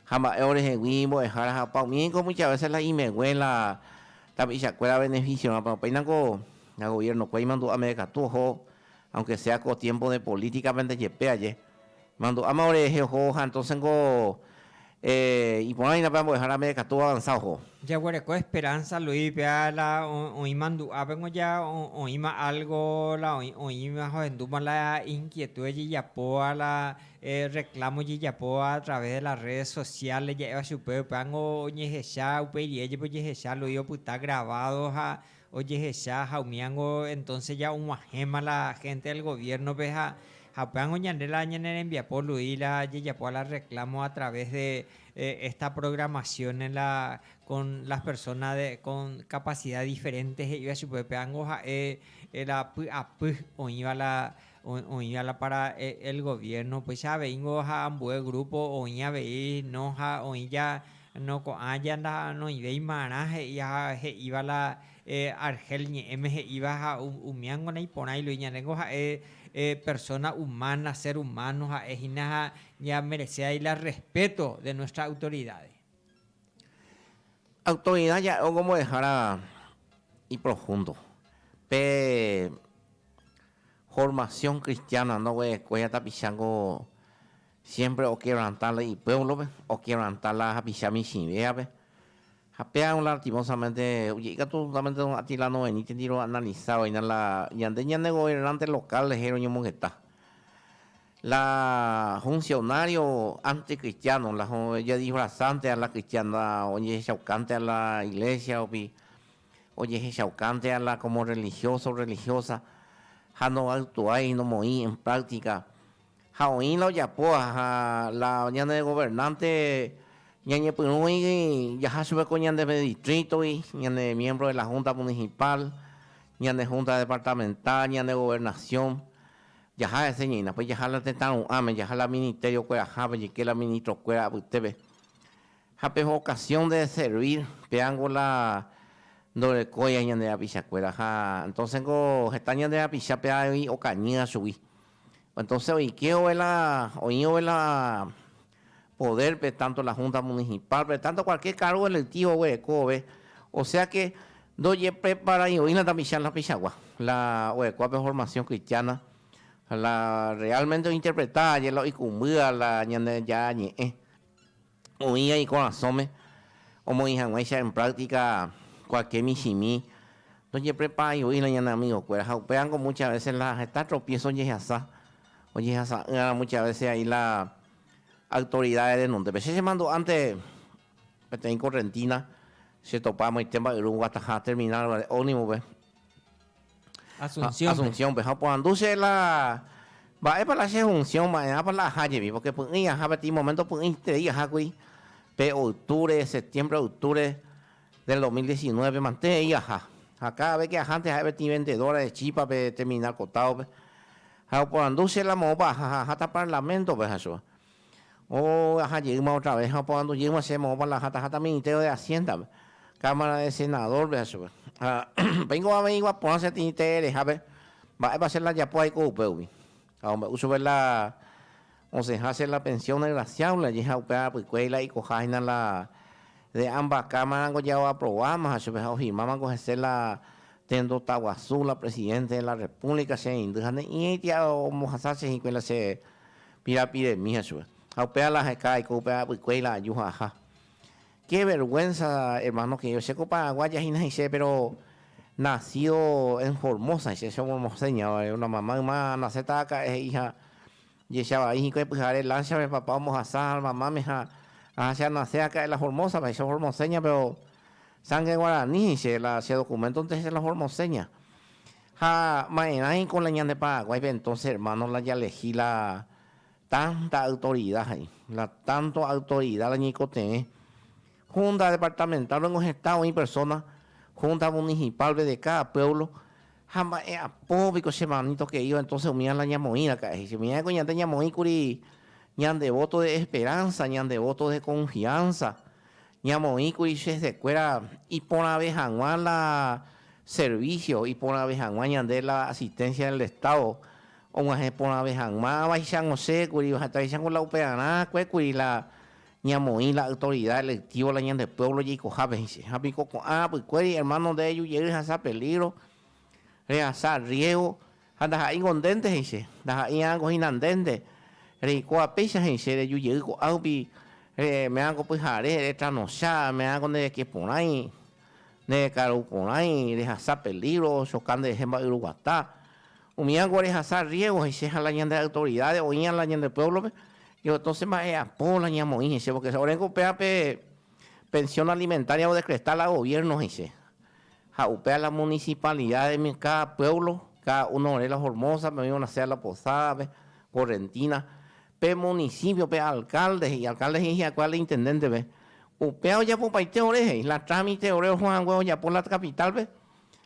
Ha mba'e orehegui imbo'ehára ha opa. Umi eiko mucha vese la imegue la tapichakuéra benefisio'ápe. Opaina ko la goviernokue imandu'a meve katu oho, aunke sea ko tiempo de políticape nde jepe aje. Imandu'áma ore rehe oho ha entonces niko iporã hína pe ambo'ehára meve katu avanza oho. Jaguereko esperanza Luis péva la oĩ mandu'ápe niko ja oĩma algo la oĩma ohendúma la inquietudes jejapóva la. Reclamo jejapóva a través de las redes sociales ja'éva chupe upévango oñehecha upeirive jepe ojehecha Luis opyta grabado ha ojehecha ha umívango entonces ya oguahẽma la gente del gobierno pe ha upévango ñande la ñane rembiapo Luis la jejapóva la reclamo a través de esta programación en la con las personas de con capacidad diferente he'iva chupe upévango ja'e la py'apy oĩva la Oĩ ala para el gobierno upéicha avei nko ha ambue grupo oĩ avei no ha oĩ ja no ko'ã ja noĩvéi marã he'i ha he'íva la Argel ñe'ẽme he'íva ha umía nko naiporã ilui ñande nko ha'e persona humana ser humano ha'e hína ha ña merecéai la respeto de nuestra autoridades. Autoridad ja'e omombo'ehára iprofundo. Pe formación cristiana ndoguerekue tapicha niko siempre oquebranta la ipueblo-pe, oquebranta la hapicha michĩvéape. Ha péva lastimosamente ikatu solamente don Atila noveníntendiro oanaliza oĩna la ñande ñanegobernante local rehe roñomongeta. La hunsionário antikristiáno, la ojadisvrasánte a la kristiana, ojehechaukánte a la iglésiarupi, ojehechaukánte a la kómo rrelihióso, rrelihiósa, ha novytuái, nomoĩ en práktika. Ha oĩ la ojapóva, ha la ñane governánte ñañepyrũi jaha chupe ko ñande distrítogui, ñane miémpro de la húnta munisipál, ñane húnta departamental, ñane governasión, Jaha eseñeína, pe jaha la tetã ru'ãme, jaha la ministerio kuerahápe, jeike la ministro kuéra apytépe. Ha pe vocación de servir, péango la ndorekóia ñande rapicha kuéra. Ha entonces niko heta ñande rapicha pe avei okañýva chugui. Entonces oike ove la, oĩ ove la. podérpe, tánto la Húnta Munisipálpe, tánto kualkiér kárgo elektívo oguereko vove. Osea ke ndojepreparai'oína tapicha la peichagua, la orekóva pe formasión kristiána, la reálmente ointerpreta aje la oikumbýva la Ñandejára Ñe'ẽ, oĩva ikorasõme omoĩ hag̃uáicha en práktika kualkiér michĩmi. Ndojepreparai'oína ñane amigokuéra ha upévango múcha vése la heta tropiéso ojehasa. Oñehasa'ỹramo muchas veces ahí la autoridades renondépe. Che chemandu'ánte peteĩ correntina chetopa amoite mba'yru guataha terminal guare ómnibope. Asunciónpe. Asunciónpe. Ha oporandu che la mba'épa la che función, mba'erãpa la aha jepi. Porque py'ỹi aha peteĩ momento py'ỹintei ahákuri pe octubre, septiembre, octubre. Del 2019 mante he'i aha, ha cada vez que ahánte ha'e peteĩ vendedora de chipa pe determina ko táope, ha oporandu che la moõpa aha ha aháta Parlamento-pe ha chugua o aha jeýma otra vez ha oporandu jeýma che moõpa la aháta aháta Ministerio de Hacienda-pe, Cámara de Senador-pe ha chugua. Ha upéi ko avei gua porã che tĩi tee rehápe, mba'épa che la japo aiko upe umi. Ha ombe'u chupe la osẽha che la pensión desgraciado la jeha upe apykue la ikoha hina la de ambas cámara nko jao aprobama ha chupe ha ofirmama nko hese la tendo taguasu la presidente de la república che reindy ha ne'i eiti ombohasa che hikue la che pirapiremi ha chupe ha upea la aheka aiko upe apykue la aju ha aha Qué vergüenza hermano querido, che ko Paraguaya hína heise pero nació en Formosa heise, soy formoseña vale, una mamá yma nace ta acá he'i ha jecha vai hikuái pyhare lancha pe papá ombohasa ha mama me ha aha che a nace acá en la Formosa vale, soy formoseña pero sangre guarani heise la che documento nte heise la formoseña ha maerái ko la ñande Paraguay pe entonces hermano la ya legi la Tanta autorida he'i. La tanto autorida la ñeikotevẽ. Húnta departamentálpe niko hetã oĩ persóna, húnta munihipálpe de káda puévlo. Ha mba'e apo piko che mani tokeíva, entóse umíva la ñamoĩraka'e he'i. Umívaiko ñande ñamoĩkuri ñande vóto de esperánsa, ñande vóto de konfiánsa, Ñamoĩkuri che hesekuéra iporãve hag̃ua la servicio, iporãve hag̃ua ñande la asistencia del Estado, og̃uahẽ porãve hag̃ua avaichag̃o che kuri, ohataveichag̃o la upearã kue kuri la ñamoĩ la autoridad electivo la ñande pueblo jeikohápe he'ise. Ha piko ko'ã rapykuéri, hermano, nde rejujey rehasa peligro, rehasa riesgo, Ha ndaha'éingo ndénte he'ise, ndaha'éi'ango hína ndénte, reikóva péicha he'ise, reju jey ko'ã rupi, reme'ãngo pyhare, retranocha, me'ãngo nde reke porãi, nde rekaru porãi, rehasa pelígro, choka nde rehe mba'yru guata. Umí'ango rehasa riégo he'ise ha la ñande autoridáde oĩ'a la ñande puévlope, yo entónse mba'e'apo la ñamoĩ he'ise, pórke oréngo upéva pe pensión alimentária odekretá la goviérno he'ise. Ha upéva la municipalidad-emi, cada pueblo, cada uno ore la Formosa-pe oĩ Buena Sea La Posada-pe, Correntina, pe municipio, pe alcalde he'i, alcalde he'i hyakuã la intendente-pe, upéva ojapopaite ore he'i, la trámite ore oho hague ojapo la capital-pe,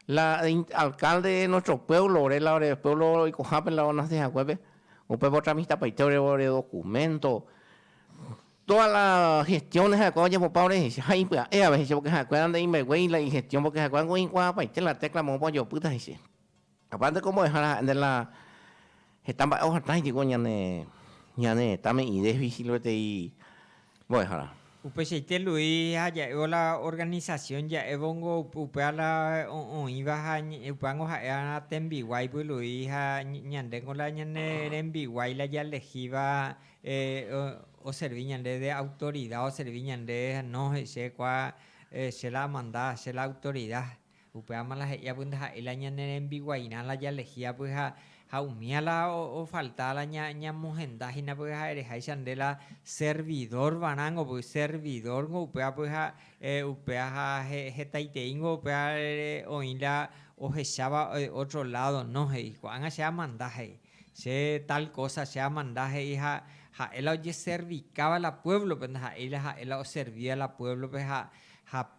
la alcalde de nuestro pueblo ore, la ore pueblo oikohápe la onace haguépe, upépe otramistapaite ore documento. Todas las gestiones ha'ekuéva ojepopa orehecha ha ipya'e avei hecha porque ha'ekuéra nde imbeguéi la igestión porque ha'ekuéra ningo oikuaapaite la tecla moõpa ojopýta heche. Aparte cómo odejára ha'e nde la heta mba'e ohatã jeiko ñane ñane retãme idéficil peteĩ mbo'ehára. Upeichaite Luis ha ja'évo la organización ja'évo ningo upéva la oĩva ha upéva ningo ha'eha tembiguáipe Luis ha ñande ningo la ñane rembiguái la jalejíva oservi ñande de autorida, oservi ñande no he'ise kua che la amanda, che la autorida, upévama la he'i apy ndaha'éi la ñane rembiguairã la jalehi apy ha umía la ofalta la ñamohenda hína pype ha ereháicha nde la servidor varãngo pype, servidor nko upéva pype ha upéva ha hetaitei nko upéva oĩ la ohecháva otro lado no he'i, ko'ág̃a che amanda he'i. Che tal kósa che amanda he'i ha ha'e la ojeservikáva la puévlope, ndaha'éi la ha'e la oservíva la puévlope ha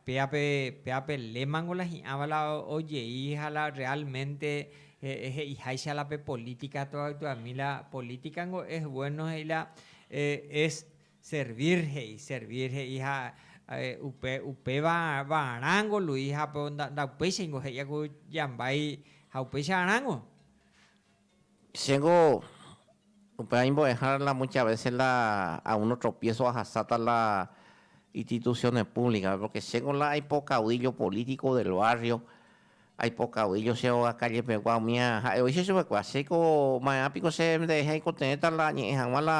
péape, péape lémango la hi'ãva la ojei ha la rreálmente he'iháicha la pe polítika tuavetuami. La polítikango es vuéno he'i la es servír he'i, servír he'i ha upe, upéva va'arãngo lui ha pe nda'upeicháingo he'íva ku jambái ha upéicha arãngo. Chéngo upéva imbo'eha la mucha vese la a uno tropiéso ahasáta la ititusióne púvlikape, pórke chéngo la aipo kavuíllo polítiko del várrio, aipo kavuíllo che óga kállejepegua umi ha'e oicha chupekuéra, chéko maerã piko che nderehe aiko teéta la añe'ẽ hag̃ua la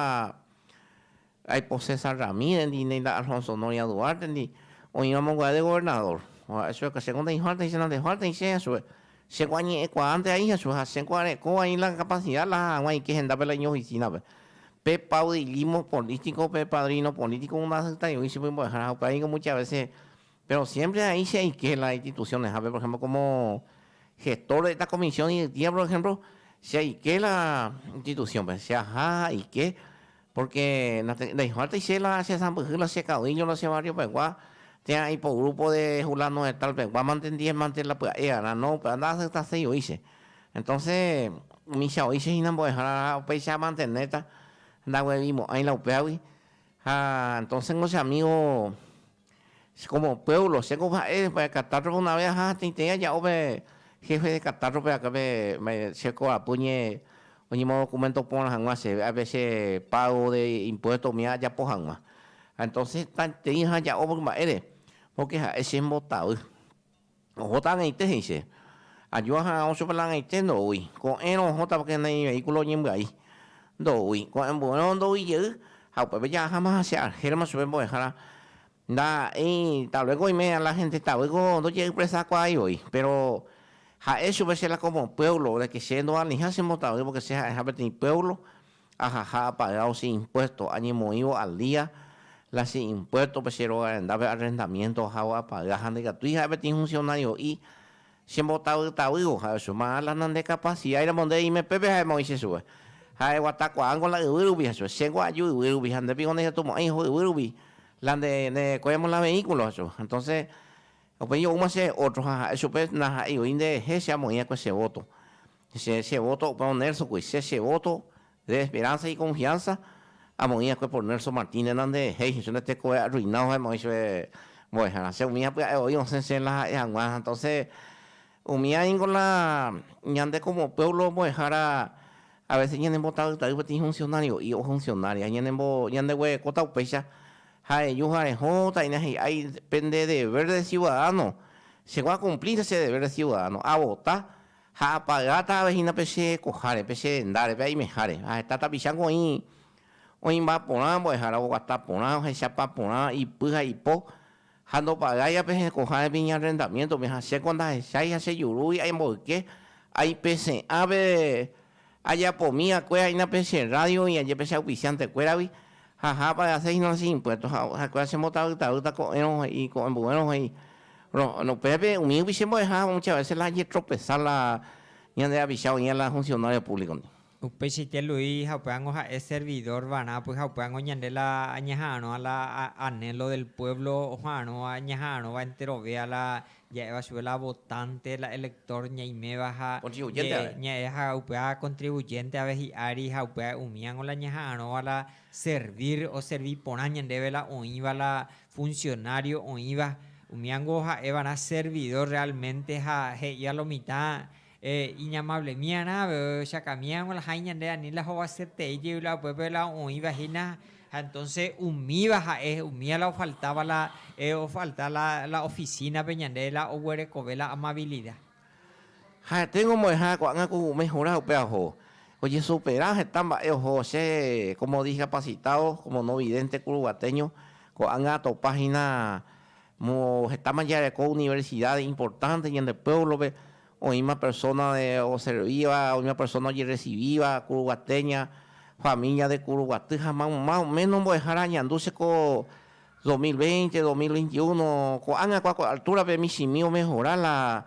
Aipo César Ramírez-ndi, ndainda Alfonso Honoria Duarte-ndi, oĩva monguae de gobernador. Oha'e chugui akã, chéko ndehártehi che nandehártehi chéa chugui. Chéko añe'ẽkuaánte aíha chugui ha chéko are'ẽkóva oĩ la capacidad la hag̃ua aike hendápe la iñoficina-pe. Pe paudillismo político, pe padrino político ndahasyitáigui chupy mbo'ehára ha upéva ningo muchas veces, pero siempre aĩ che aike la instituciones-hápe, por ejemplo, como gestor de esta comisión yvytía, por ejemplo, che aike la institución-pe, che aha ha aike Pórke ndaihuvártai che la che sãmbyhy la che kaoíño la che barriopegua, térã aipo grúpo de Fulano de Tal pegua mante ndihémante la pya'e va'erã. No, upéva nda'aseptaséi voi che. Entónse micha oíche hína mbo'ehára upéicha amantenéta, ndaguevimo'ãi la upévagui. Ha entónse ko che amígo. Che kómo puévlo, chéngo oha'e katátrope una vé aja hatãiteĩ aja'o pe héfe de katátrope akã pe che korapy oñe, oñemodokumento porã hag̃ua chéve, ápe che págo de impuésto umi ajapo hag̃ua. Ha entónse hetaiteĩ aja aja'o ore mba'ére, pórke ha'e che mbotavy. Ohóta ag̃aite, he'i che. Aju aha'ã ochopela ag̃aite, ndoúi. Ko'ẽrõ ohóta porque neĩ vehículo oñembyai. Ndoúi. Ko'ẽmbuérõ ndoúi jey. Ha upépe ja'aháma che argéramo chupe mbo'ehára. Ndaha'éi, tal vez ko oime la gente tavy ko ndojeypresakuaái voi. Péro ha'e chupe che la como pueblo, de que che ndoalĩha che mbotavy porque che ha'eha peteĩ pueblo. ajaha apagao che impuesto, añemoĩvo al día la che impuesto-pe, che róga rendápe arrendamiento ahávo apaga ha ndaikatúi ha'e peteĩ funcionario'i chembotavytavývo, ha oicho marã la nande capacidad-ramo nde reime pépe ha'e moĩ che chupe, ha eguata kuaángo la yvy rupi ha chupe, chéngo aju yvy rupi ha nde piko ndejetumo'ãi oho yvy rupi, la nde ndevekuéramo la vehículo, ha chupe, entonces upéi oúma che otro ha ha'e chupe naha'eivoi nderehe che amoĩ akue che voto, Che, che voto opa on Nelsokue, che, che voto de esperanza y confianza amoĩ akue por Nelson Martín nena nde jei che nde tekove arruinado ha'éma oĩ chupe mbo'ehára, che umíva pya'e voi osẽ che la ha'e hag̃ua, entonce umíva ningo la ñande como pueblo mbo'ehára a veces ñane mbotavýtavy peteĩ funcionario'i o funcionaria ñane mbo ñande guerekóta upéicha ja'eju jarehõ taína hi'ái pende deber de ciudadano chegua cumplir che deber de ciudadano a vota Ha apagáta avei hína pe che koháre, pe che rendáre, pe aimeháre. Ha heta tapicháko oĩ oĩmba porã, mbo'ehára oguata porã, ohechapa porã, ipy ha ipo. Ha ndopagáiva pe che koháre pe iñarrendamiéntope, ha chéko ndahechái ha chejurúgui aimboyke aipese'ã pe Ajapomi va'ekue ha'éna pe che rrádio oĩ aje pe che auspiciante-kuéragui, ha hápa aseis no che impuesto, ha ha'ekuéra che mbotavýtavýta ko'ẽrõ he'i, ko'ẽmbuérõ he'i. Ro, upépe umi upeicha mbo'eha mucha vese la ajetropesa la ñande rapicha oĩva la funcionario público-ndi. Upeichaite Luis ha upévango ha'e servidor va'erã pyha upévango ñande la añeha'arõva la anhelo del pueblo oha'arõva ñaha'arõva enterovéa la Ja'éva chupe la votánte, la elector ñaiméva ha ña'e ha upéva contribuyente ave hi'ári ha upéva umíango la ñaha'arõva la servir oservi porã ñandéve la oĩva la funcionario oĩva umíango ha'evarã servidor realmente ha he'íva lo mitã Eh, iñamablemiarã avevechakamiaramo la ha'e ñande ani la hovasyetei jey la upépe la oĩva hína, ha entonce umíva ha'e, umíva la ofaltáva la eh, ofalta la, la oficina-pe ñande la oguerekove la amabilida. Ha tengo mbo'ehára ko'ág̃a ku umi hura upe aho, ojesupera heta mba'e oho che como discapacitado, como no vidente kuruguateño, ko'ág̃a atopa hína Moõ hetáma jareko universidad importante ñande pueblo-pe, oĩma persona de oservíva, oĩma persona ojerrecivíva ku Ruguate, ña familia de ku Ruguaty ha ma, más o menos mbo'ehára añandu che ko 2020, 2021, ko'ág̃a ku altura-pe michĩmi omehora la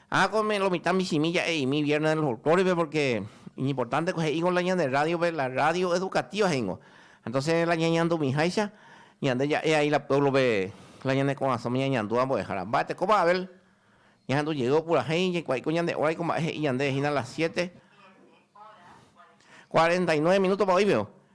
Ha ko me lo mitã michĩmi ja'e'imi Viernes del Folklore-pe porque iñimportante ko he'ingo la ñande radio-pe, la radio educativa he'ingo. Entonces la ñañandumiháicha ñande ja'e ai la pueblo-pe la ñane korasõme ñañandúva mbo'ehára. Mba'etekópa Abel ñahendu jey opurahéi jaikuaaiko ñande hora-iko ko mba'e he'i ñande hína las siete cuarenta y nueve minutospa oĩpio.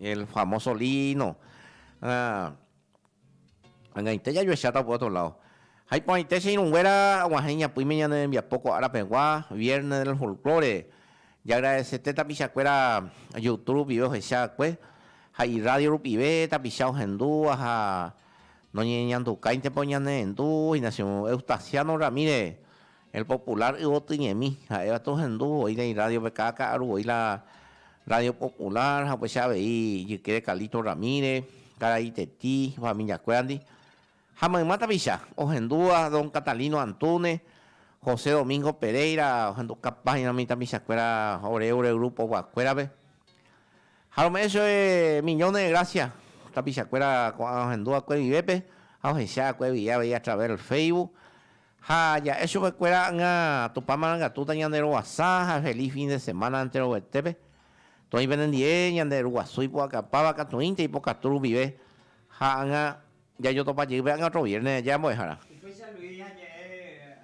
el famoso lino. Ah, Angaite jajuecháta por otro lado. Jaiporãite che irũnguéra aguahẽ iñapỹime ñane rembiapo ko ára pegua, Viernes del Folklore. Jagradeseté tapichakuéra Youtube rupive ohecha va'ekue ha irradio rupive tapicha ohendúva ha noñeñandukáintepa oñanendu hína che Eustasiano Ramírez. El Popular yvotyñemi, ha'éva tohendu voi la irrádio-pe, káda ka'aru voi la Rádio Popular ha upéicha avei ijykére Carlito Ramírez, karai Iteti, familiakuérandi, ha mayma tapicha ohendúva don Catalino Antúnez, José Domingo Pereira, ohendu kapáñaramo umi tapichakuéra ore ore grupovakuérape. Ha rome'ẽ chove millones de gracias tapichakuéra ko'ã ohendúvakue vivépe ha ohecha va'ekue avei a través del Facebook. Ha ja'e chupekuéra ãga Tupã marangatúta ñaneroguasa ha feliz fin de semana enteroguetépe. Toĩ penendie ñande Ru Guasu ipu'akapáva katuĩnte ipokatu rupive ha ãga jajotopa jey pe ãga otro viernes aja mbo'ehára. Upéicha Luis ha je'e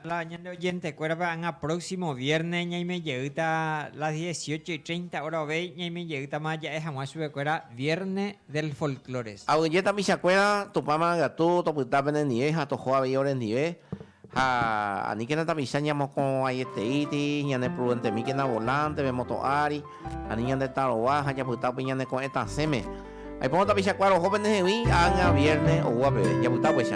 la ñande oyentecuérape ãga próximo viernes ñaime jeýta las dieciocho y treinta hora ovéi ñaime jeýtama ja'e hag̃ua chupekuéra viernes del folklore. Aguyje tapichakuéra Tupãma katu topyta pene ndive ha toho avei ore ndive, ha aníkena tapicha ñamoko'ãieteíti, ñaneprudentemíkena volante pe moto ári, ani ñande tarova ha japyta upe ñane ko'ẽ tasẽme. Aipórõ tapichakuéra oho pene hegui ág̃a vierne oúva peve. Japyta upéicha.